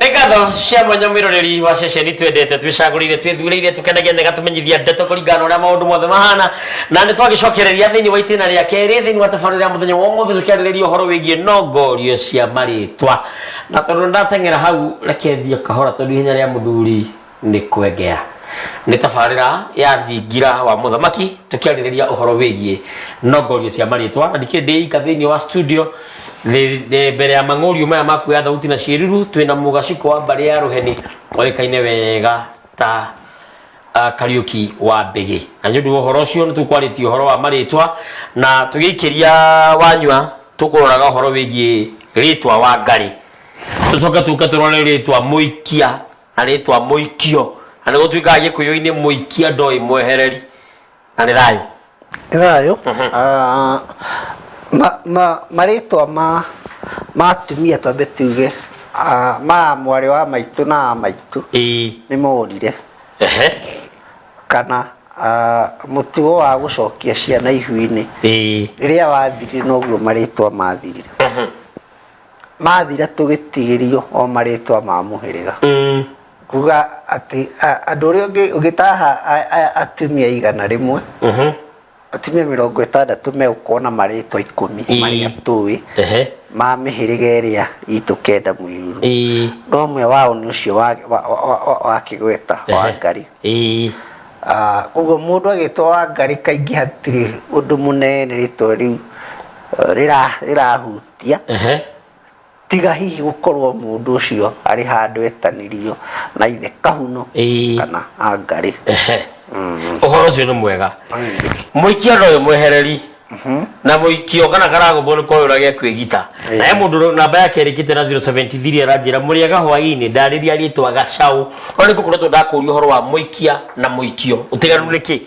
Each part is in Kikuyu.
nĩ ngatho cia mwanya mwĩroreri wa ceceni twendete twĩcagũrĩire twĩthurĩire tũkenagia na ĩgatũmenyithia ndeto kũringana na ũrĩa maũndũ mothe mahana na nĩ twagĩcokereria thĩinĩ wa itĩna rĩa kerĩ thĩinĩ wa tabarĩra ya mũthenya wa ũmũthĩ tũkĩarĩrĩria ũhoro wĩgiĩ nongorio cia marĩtwa na tondũ ndateng'era hau reke thiĩ kahora tondũ ihenya rĩa mũthuri nĩ kwengea. Nĩ tabarĩra ya thingira wa mũthamaki tũkĩarĩrĩria ũhoro wĩgiĩ nongorio cia marĩtwa na ndikĩrĩ ndĩ ika thĩinĩ wa studio Thĩ- thĩ- mbere ya mang'ũriũ maya ma kuoya thauti na ciĩruru twĩna mũgaciko wa mbarĩ ya rũheni oĩkaine wega ta uh, kariuki wa mbĩgĩ na nĩ ũndũ wa ũhoro ũcio nĩ tũkwarĩtie ũhoro wa marĩtwa na tũgĩikĩria wanyua tũkũroraga ũhoro wĩgiĩ rĩtwa wa ngarĩ tũcoke tũke tũrore rĩtwa mũikia na rĩtwa mũikio na nĩ gũtuĩkaga gĩkũyũ-inĩ mũikia ndoĩ mwehereri na nĩ thayũ Nĩ thayũ Ah, ma- ma- marĩtwa ma ma atumia twambe tuge ah, ma mwarĩ wa maitũ na a maitũ ĩĩ nĩ morire ehe kana ah, mũtugo wa gũcokia ciana ihu-inĩ ĩĩ rĩrĩa wathirire noguo marĩtwa mathirire Mhm. mathira tũgĩtigĩrio o marĩtwa ma mũhĩrĩga Mm. kuga atĩ a- andũ ũrĩa ũngĩ- ũngĩtaha a- a- atumia igana rĩmwe Mhm. atumia mĩrongo ĩtandatũ megũkorwo na marĩtwa ikũmi Ii. marĩa tũĩ Ehe. ma mĩhĩrĩga ĩrĩa itũ kenda mũiruru Ii. no ũmwe wao nĩ ũcio wa- wa- wa- wa- wa kĩgweta wa Ehe. ngari Ii. Ah, koguo mũndũ agĩtwo wa ngari kaingĩ hatirĩ ũndũ mũnene rĩtwa rĩu eh, rĩra- rĩrahutia tia ehe tiga hihi gukorwo mundu ucio ari handu etanirio na ithe kahuno Ĩĩ. kana angari ehe uhoro ucio ni mwega muikia no imwehereri na muikio kana karaguthwo ni koyura gya kwigita Ĩĩ. naye mundu namba yake irikite na 073 aranjira muriega hwaini ndariria ritwa gacau no ni ngukoretwo ndakuria uhoro wa muikia na muikio utiganu ni ki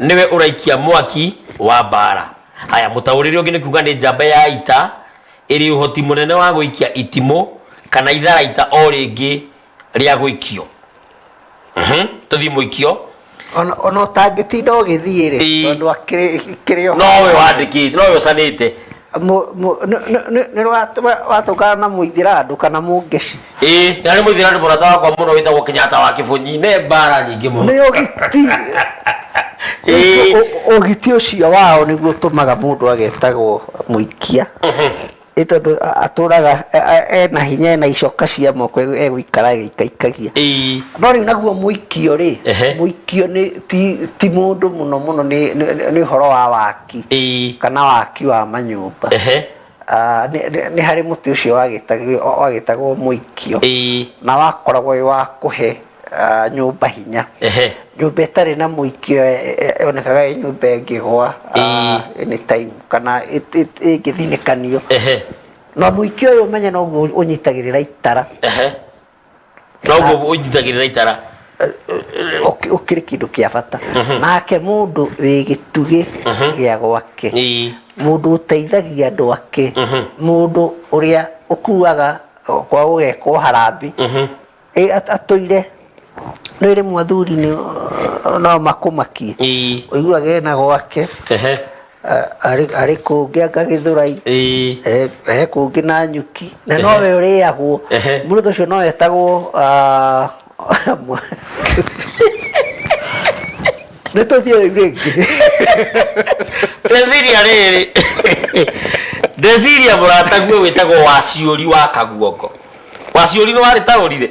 nĩwe ũraikia mwaki wa mbaara haya mũtaũrĩre ũngĩ nĩ kuga nĩ njamba ya ita ĩrĩ ũhoti mũnene wa gũikia itimũ kana itharaita o rĩngĩ rĩa gũikio Mhm, tũthiĩ mũikio Ona- ona ũtangĩtinda ũgĩthiĩ rĩ Ĩĩ. tondũ akĩrĩ- kĩrĩ o nowe wandĩkĩte nowe ũcanĩte nĩ watũngana na mũithirandũ kana mũngeci ĩĩ na nĩ mũithirandũ mũrata wakwa mũno wĩtagwo kenyatta wa kĩbũnyi nĩ mbara nyingĩ mũno nĩ ũgiti Ĩĩ. Ũ- ũgiti ũcio wao nĩguo ũtũmaga mũndũ agetagwo mũikia nĩ tondũ a- atũraga e- e- ena hinya ena icoka cia moko e- egũikara agĩikaikagia Ĩĩ. no rĩu naguo mũikio rĩ Ehe. mũikio nĩ ti- ti mũndũ mũno mũno nĩ- nĩ nĩ ũhoro wa waki waki Ĩĩ. kana waki wa manyũmba Ehe. Ah, nĩ- nĩ nĩ harĩ mũtĩ ũcio wagĩtagio- wagĩtagwo mũikio Ĩĩ. na wakoragwo wĩ wa kũhe ah, nyũmba hinya Ehe. nyũmba ĩtarĩ na mũikio eh, eh, yonekaga ĩ nyũmba ĩngĩgwa ah, anytime kana ĩt- ĩt- ĩngĩthinĩkanio Ehe. na mũikio ũyũ ũmenye noguo ũnyitagĩrĩra itara Ehe. noguo ũnjitagĩrĩra itara ũkĩ- ũkĩrĩ kĩndũ kĩa bata nake mũndũ wĩ gĩtugĩ gĩa gwake Ĩĩ. mũndũ ũteithagia andũ ake mũndũ ũrĩa ũkuaga kwa ũgekwo harambĩ Ĩ, at- atũire rĩu rĩmwe athuri nĩ- no makũmakie Ĩĩ. ũiguaga ena gwake Ehe. arĩ arĩ kũngĩ anga gĩthũrai Ĩĩ. eh, he kũngĩ na nyuki na nowe ũrĩagwo Ehe. mũrũthi ũcio no etagwo ah, mwa- nĩ tũthiĩ rĩu rĩngĩ ndeciria rĩrĩ ndeciria mũrataguo wĩtagwo waciũri wa kaguongo waciũri nĩ warĩ taũrire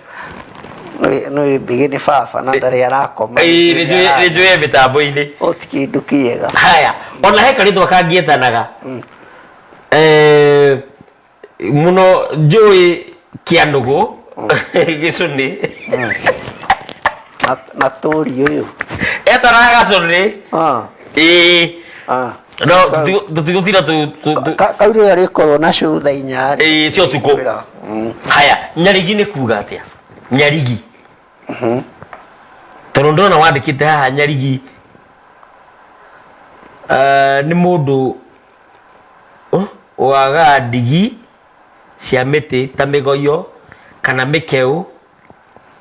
nä mbigä nä baba na ndarä arakoma Ĩĩ, nĩ njũĩ- nĩ njũĩ mĩtambo-inĩ å ti kä ndå kä ega haya ona he karĩtwa kangĩetanaga Eh, mũno njũĩ kĩa nũgũ gĩcũnĩ na turi uyu etaraga curi ii no tutigutira kauri ria rikorwo na cutha inya ii cio tuku mm. haya nyarigi ni kuga atia nyarigi mm-hmm. tondu ndona wandikite haha nyarigi eh, ni mundu oh, waga ndigi cia miti ta migoyo kana mikeu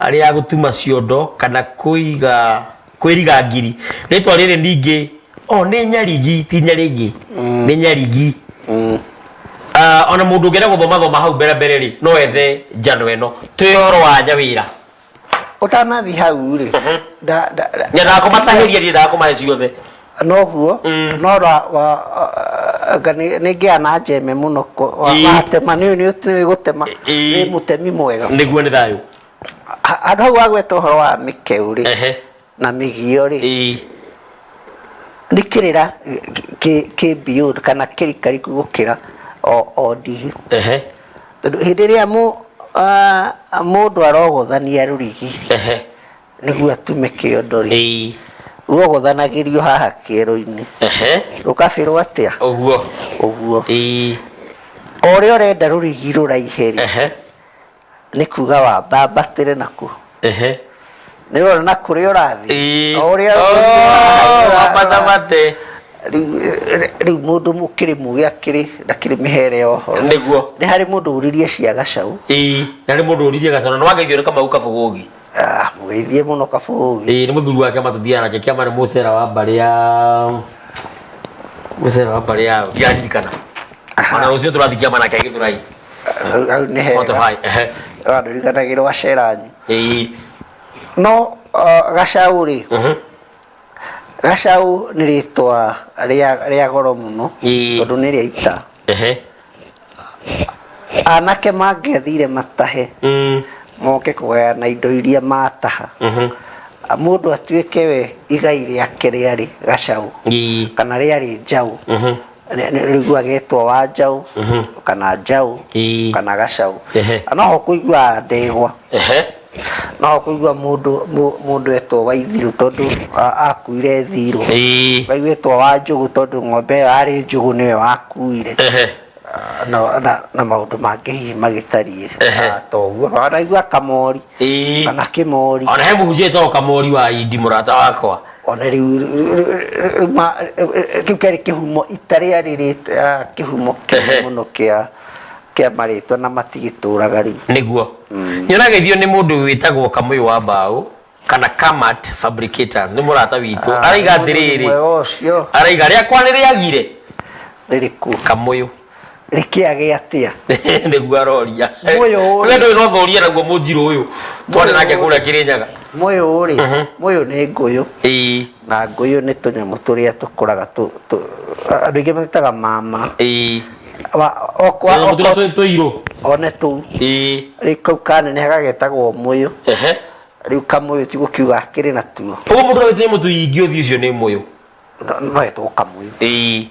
rĩa gũtuma ciondo kana kũiga kwĩriga ngiri rĩtwa rĩrĩ ningĩ o nĩ nyarigi ti nyarigi nĩ nyarigi Ah, ona mũndũ ũngĩenda gũthoma thoma hau mbere mbere rĩ no ethe njano ĩno twĩ ũhoro wa nyawĩra ũtanathi hau rĩ nda- nda- nda- nyendaga kũmatahĩria ndiendaga kũmahe ciothe noguo nora anga nĩngĩa na njeme mũno watema nĩ nĩũĩ gũtema nĩ mũtemi mwega nĩguo nĩ thayũ handũ hau wagweta ũhoro wa mĩkeu rĩ na mĩgio rĩ nĩ kĩrĩra kĩ beyond kana kĩrikariku gũkĩra o ndigi tondũ hĩndĩ ĩrĩa mũndũ arogothania rũrigi nĩguo atume kĩondo rĩ Ĩi. guogothanagĩrio haha kĩero-inĩ Ehe. rũkabĩrwo atĩa Ũguo. ũguo Ĩi. o ũrĩa ũrenda rũrigi rũraihe rĩ Ehe. nĩ kuga wambambatĩre nakuo Ehe. nĩ ũrona na kũrĩa ũrathiĩ Ĩi. o ũrĩa Oh, rũrigi rũraihe, ũra- wambatamate. Rĩu- rĩu mũndũ mũkĩrĩ mũgĩ akĩrĩ ndakĩrĩ mĩhere ya ũhoro Nĩguo. nĩ harĩ mũndũ ũririe cia gacaũ Ĩi. Na nĩ mũndũ ũririe gacana. Nĩ wageithio nĩ kamau kabũgũgi. Ah, mũgeithie mũno kabũi ĩĩ nĩ mũthuri wake matũthiaga nake kĩama nĩ mũcera wa mbarĩ ya mũcera wa mbarĩ ya ndiraririkana ona rũciũ tũrathiĩ kĩama nake gĩthũrai Hau- hau nĩ hega Spotify, ehe. wandirikanagira waceranyu ĩĩ no ah, gacaũ rĩ mhm. gacaũ nĩ rĩtwa rĩa rĩa goro mũno Ĩĩ. tondũ nĩ rĩa ita Ehe. anake mangĩathire matahe Mm. moke kũgayana indo iria mataha Mhm. mũndũ atuĩke we igai rĩake rĩarĩ gacaũ Ii. kana rĩarĩ njaũ Mhm. Nĩ- nĩ- rĩu agetwo wa njaũ kana njaũ Ii. kana gacaũ Ehe. na noho kũiguaga ndegwa Ehe. No kũigua mũndũ mũ- mũndũ etwo waithiru tondũ a- akuire thirũ Ii. waigwĩtwo wa njũgũ tondũ ng'ombe ĩyo yarĩ njũgũ nĩwe wakuire Ehe. na, na, na maũndũ mangĩ hihi magĩtariĩ Ehe. ah, ta ũguo Na wanaigua kamori Ii. kana kĩmori ona he mũhunjia etagwo kamori wa indi mũrata wakwa ona rĩu rĩu- rĩu- rĩu ma- kĩu kĩarĩ kĩhumo itarĩa rĩrĩ ah, kĩhumo Ehe. kĩnene mũno kĩa kĩa marĩtwa na matigĩtũraga rĩu nĩguo Mm. Nyonageithio nĩ mũndũ wĩtagwo Kamũyũ wa Mbaũ kana Kamat Fabricators nĩ mũrata witũ Ah, araiga mũndũ atĩrĩrĩ mwega ũcio araiga rĩakwa nĩ rĩagire rĩrĩkũ Kamũyũ rĩkĩage atĩa nĩguo aroria Mũyũ ũyũ. we ndũĩ no thoria naguo mũnjirũ ũyũ twarĩ nake kũrĩa Kĩrĩnyaga mũyũ rĩ mũyũ nĩ ngũyũ ĩĩ na ngũyũ nĩ tũnyamũ tũrĩa tũkũraga tũ- tũ- andũ aingĩ magĩtaga mama ĩĩ Wa- okwa- tũnyamũ tũrĩa okwa- twĩ- tũirũ one tũu ĩĩ rĩu kau kaneneha gagetagwo mũyũ ehe rĩu kamũyũ ti gũkiuga akĩrĩ natuo ũguo mũndũ ũrĩa wĩ tũnyamũ tũingĩ ũthiũ ũcio nĩ mũyũ no etwo kamũyũ ĩĩ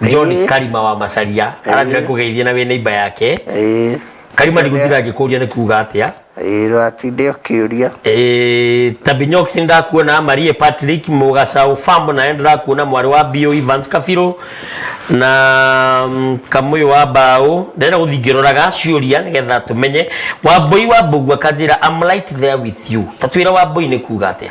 john Ĩĩ. karima wa macaria aratira Ĩĩ. kũgeithia na wĩ neiba yake Ĩĩ. karima ndigũtira ngĩkũria nĩ kuga atĩa Ĩĩ, ndũgatinde ũkĩũria Eh, tabinyox ndakuona marie patrick mugacaũ fam naye ndĩrakuona mwarĩ wa bio evans kabirũ na mm, kamũyũ wa mbaũ ndĩrenda gũthiĩ ngĩroraga ciũria nĩgetha tũmenye wambũi wa mbũgua kanjĩra am right there with you tatwĩra wambũi nĩ kuga atĩa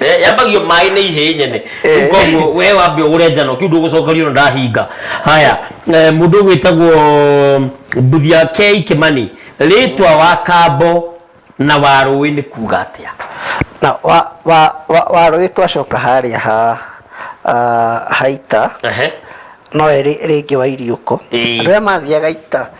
Eh, yambagio maĩ nĩ ihĩ nyene Eh. koguo we wambe ũgũre njano kiu ndũgũcokerio na ndahinga haya eh, mũndũ gwĩtagwo mbuthia kei kĩmani rĩtwa wa kambo na wa rũĩ nĩ kuga atĩa na wa wa wa, wa rũĩ twacoka harĩa ha ah, haita Ehe. no rĩ rĩngĩ wa iriũko Ĩĩ. andũ arĩa mathiaga ita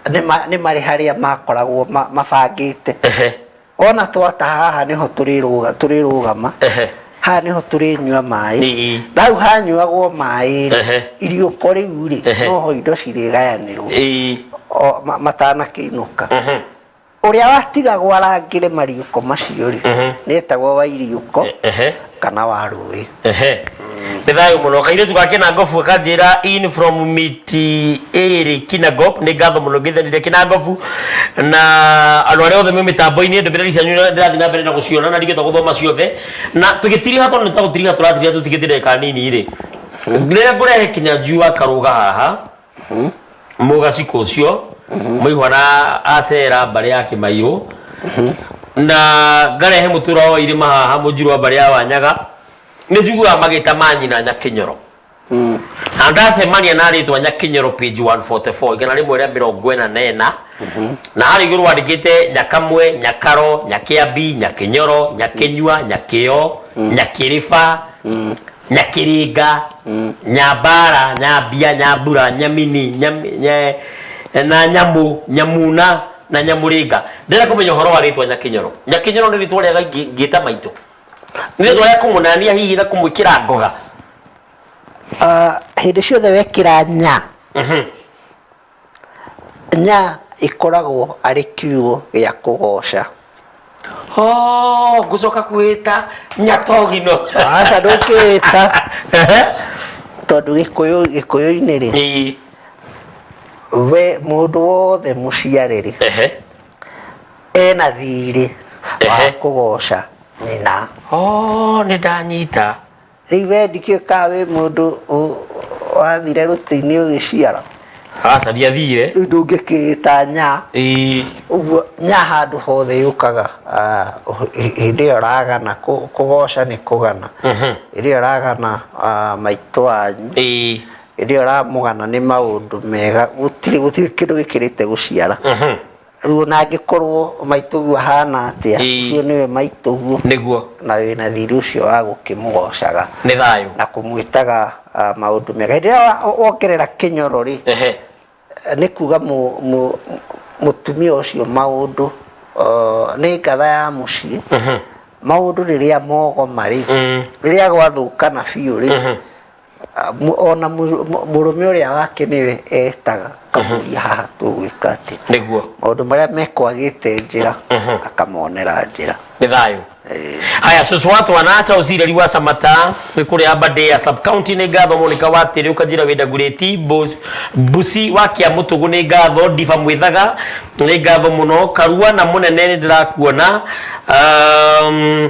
nĩ ma- nĩ marĩ harĩa makoragwo ma- mabangĩte Ehe. Ona twataha haha nĩho tũrĩrũga- tũrĩrũgama, Ehe. haha nĩho tũrĩnyua maĩ. Ĩĩ. Na hau hanyuagwo maĩ-rĩ, Ehe. iriũko rĩu-rĩ, Ehe. noho indo cirĩgayanĩrwo Ĩĩ. o- ma- matanakĩinũka. Mhm. Ũrĩa watigagwo arangĩre mariũko macio-rĩ, Mhm. nĩetagwo wa iriũko. Ehe. kana wa rũĩ ehe nĩ thayũ mũno kairĩtu ga kĩnangobu gakanjĩra in from miti ĩrĩ kinangop nĩ ngatho mũno ngĩthenire kĩnangobu na andũ arĩa othe me mĩtambo-inĩ ndũmĩrĩri cianyu nĩ- ndĩrathiĩ na mbere na gũciona na ndigĩte gũthoma ciothe na tũgĩtiriha tondũ nĩ ta gũtiriha tũratiriha tũtigĩte ndagĩka nini rĩ rĩrĩa ngũrehe kinya njui wa karũga haha mũgaciko ũcio mũihwa na acera mbarĩ ya kĩmairũ na ngarehe mũtũra wa irĩma haha mũnjirwa mbarĩ ya wanyaga nĩ njiguaga magĩta ma nyina nyakĩnyoro na ndacemania na rĩtwa nyakĩnyoro page 144 igana rĩmwe rĩa mĩrongo ĩna na ĩna na harĩ igũrũ wandĩkĩte nyakamwe nyakaro nyakĩambi nyakĩnyoro nyakĩnyua nyakĩo nyakĩrĩba nyakiringa nyambara nyambia nyambura nyamini nyam- nye- na nyamu nyamuna na nyamuringa ndĩrenda kũmenya ũhoro wa rĩtwa nyakinyoro nyakinyoro nĩ rĩtwa rĩega ingĩ- ingĩta maitũ nĩ rĩtwa rĩa kũmũnania hihi na kũmwĩkĩra ngoga Ah, hĩndĩ ciothe wekĩra nya Nya ĩkoragwo arĩ kiugo gĩa kũgooca. Hoo, ngũcoka kwĩĩta Nyatogino. Aca ndũngĩĩta. Ehe. Tondũ Gĩkũyũ, Gĩkũyũ-inĩ rĩ, Ĩĩ. we mũndũ wothe mũciare rĩ, Ehe. ena thiirĩ wa Ehe. kũgooca nyina. Hoo, nĩ ndanyita. Rĩu we ndikĩũĩ ka wĩ mũndũ ũ- wathire rũtĩ-inĩ ũgĩciara aca ndiathire rĩu ndũngĩkĩĩta nya Ĩĩ. ũguo nya handũ hothe yũkaga ah, hĩ- hĩndĩ ĩyo ragana kũ- kũgoca nĩ kũgana Mhm. hĩndĩ ĩyo ragana ah, maitũ wanyu Ĩĩ. hĩndĩ ĩyo ramũgana nĩ maũndũ mega gũtirĩ gũtirĩ kĩndũ gĩkĩrĩte gũciara Mhm. Rĩu ona angĩkorwo maitũguo ahana atĩa, Ĩĩ. ũcio nĩwe maitũguo nĩguo na wĩna thiri ũcio wa gũkĩmũgocaga nĩ thayũ na kũmwĩtaga ah, maũndũ mega. Hĩndĩ ĩrĩa wa- wongerera kĩnyoro rĩ, ehe nĩ kuga mũ- mũ- mũtumia ũcio maũndũ ah, nĩ ngatha ya mũciĩ maũndũ rĩrĩa mogoma rĩ Mm. rĩrĩa gwathũkana biũ rĩ ona mũrũme ũrĩa wake nĩwe etaga akamũria haha tũgwĩka atĩ nĩguo maũndũ marĩa mekwagĩte njĩra akamonera njĩra nĩ thayũ Eh, haya susu watu wanaacha usireri wa samata wikuria bade ya sub county ni ngatho monika watiri ukajira wida gureti Bu- busi wa kia mutugu ni ngatho diva mwithaga ni ngatho muno karua na munene ni ndirakuona um,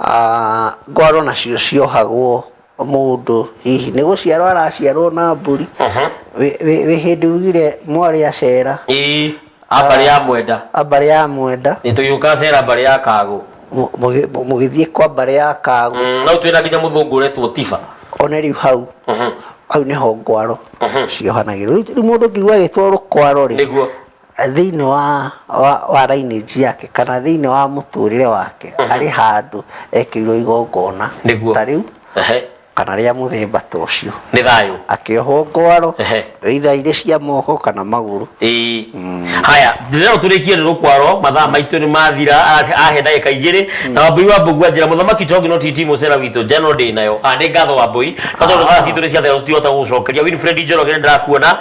aah ngwaro nacio ciohagwo mũndũ hihi nĩ gũciarwo araciarwo na mbũri Wĩ- wĩ wĩ hĩndĩ ugire mwarĩ acera ii ambarĩ ya mwenda ambarĩ ya mwenda nĩ tũgĩũka cera mbarĩ ya kagũ mũ- mũgĩ- mũ- mũgĩthiĩ kwa mbarĩ ya kagũ Mm, no twĩna nginya mũthũngũ ũretwo tiba one rĩu hau hau nĩho ngwaro ciohanagĩrwo Rĩu- rĩu mũndũ ngiuga agĩtwarwo kwaro rĩ nĩguo thĩinĩ wa, wa, wa lineage yake kana thĩinĩ wa mũtũrĩre wake arĩ handũ ekĩirwo igongona Nĩguo. ta rĩu Ehe. kana rĩa mũthemba ta ũcio nĩ thayũ akĩohwo ngwaro Ehe. either irĩ cia moko kana magũrũ Ĩĩ. haya ndĩrero tũrĩkie nĩ rũkwaro mathaa maitũ nĩ mathira a- ahe ndagĩka igĩrĩ na wambui wa mbũgu anjĩra mũthamaki tongi no titi mũcera witũ njano ndĩ nayo Ah, nĩ ngatho wambui no tondũ thaa citũ nĩ ciathera tũtihota gũgũcokeria winfred njoroge nĩ ndĩrakuona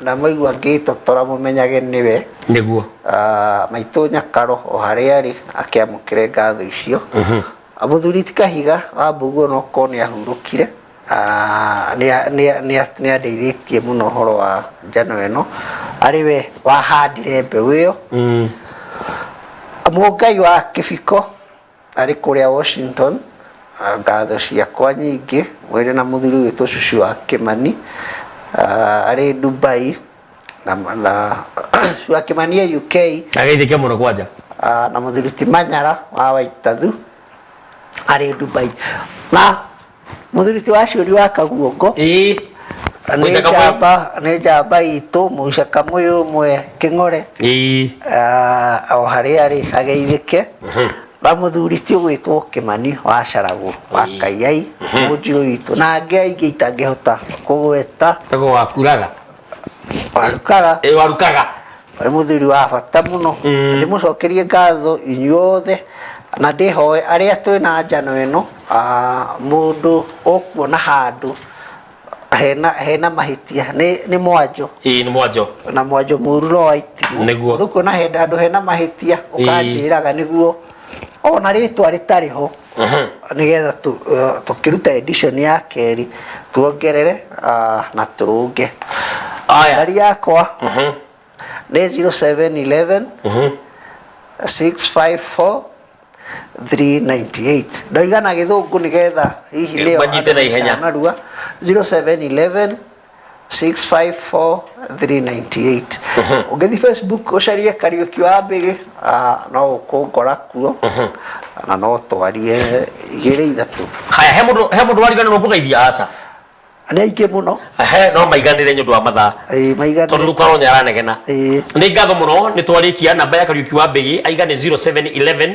Na mwaigua ngĩĩtotora mũmenyage nĩwe. Nĩguo. Maitũ Nyakaro o harĩa arĩ akĩamũkĩre ngatho icio. Mũthuri ti Kahiga wa Mbũgu o na okorwo nĩ ahurũkire, nĩ andeithĩtie mũno ũhoro wa njano ĩno. Arĩ we wahandire mbeũ ĩyo. Mũngai wa Kĩbiko. Arĩ kũrĩa Washington, ngatho ciakwa nyingĩ mwĩrĩ na mũthuri witũ cucu wa Kĩmani arĩ Dubai na na cucu wa Kĩmani e UK Ageithĩke mũno kwanja. ah, na mũthuri ti Manyara wa Waitathu arĩ Dubai na Mũthuri ti wacuri wa kaguongo ĩĩ nĩ Mũica Kamũyũ. njamba nĩ njamba itũ mũica kamũyũ ũmwe kĩng'ore ĩĩ Ah, o harĩa arĩ ageithĩke na mũthuri ti ũgwĩtwo kĩmani wa caragũ wa Ĩĩ. kaiai mũnjirũ witũ na angĩ aingĩ itangĩhota kũgweta kago wakuraga warukaga ĩ warukaga wĩ mũthuri wa bata mũno Mm. ndĩmũcokerie ngatho inyuothe na ndĩhoe arĩa twĩ na njano ĩno ah, mũndũ ũkuona handũ hena, hena mahĩtia nĩ, nĩ mwanjũ ĩ nĩ mwanjo na mwanjũ mũru no waitimũ Nĩguo. rĩu kuona henda andũ hena mahĩtia ũkanjĩraga nĩguo ona rĩtwa rĩtarĩ ho nĩgetha tu- eh, tũkĩruta edition ya kerĩ tuongerere ah, na tũrũnge aya ngari yakwa nĩ 0711 654 398 ndoigana gĩthũngũ nĩgetha hihi nĩyo Manyite na ihenya. narua 0711 654398 ũngĩthiĩ facebook ũcarie kariũki wa mbĩgĩ ah, no ũkũngora kuo na no twarie igĩrĩ ithatũ haya he mũndũ he mũndũ wariganĩrwo kũgeithia aca nĩ aingĩ mũno he no maiganĩre nĩ ũndũ wa mathaa Ĩĩ, maigana tondũ rĩu karonya aranegena Ĩĩ. nĩ ngatho mũno nĩ twarĩkia namba ya kariũki wa mbĩgĩ aigane 0711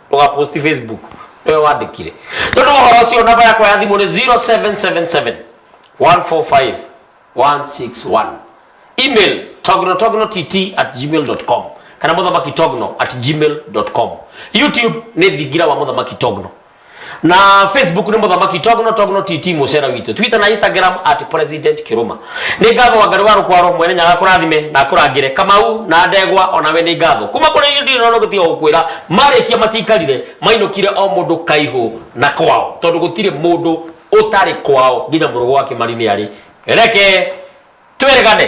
ndũgaposti facebook nĩwe wandĩkire tondũ ũhoro ũcio namba yakwa ya thimũ nĩ 0777 145 161 email tognotognott at gmail.com kana mũthamaki togno at gmail.com youtube nĩ thingira wa mũthamaki togno na facebook nĩ mũthamaki togno togno tt mũcera witũ twitter na instagram at president kiruma Nĩ ngatho Wangari wa Rũkwaro mwene Nyaga akũrathime na akũrangĩre. Kamau na Ndegwa onawe nĩ ngatho. Kuma kũrĩ ithuĩ ndirĩ na ũndũ tiga gũkwĩra marĩkia matiaikarire mainũkire o mũndũ kaihũ na kwao tondũ gũtirĩ mũndũ ũtarĩ kwao nginya mũrũgũ wa Kĩmari nĩ arĩ. Reke twĩrĩgane.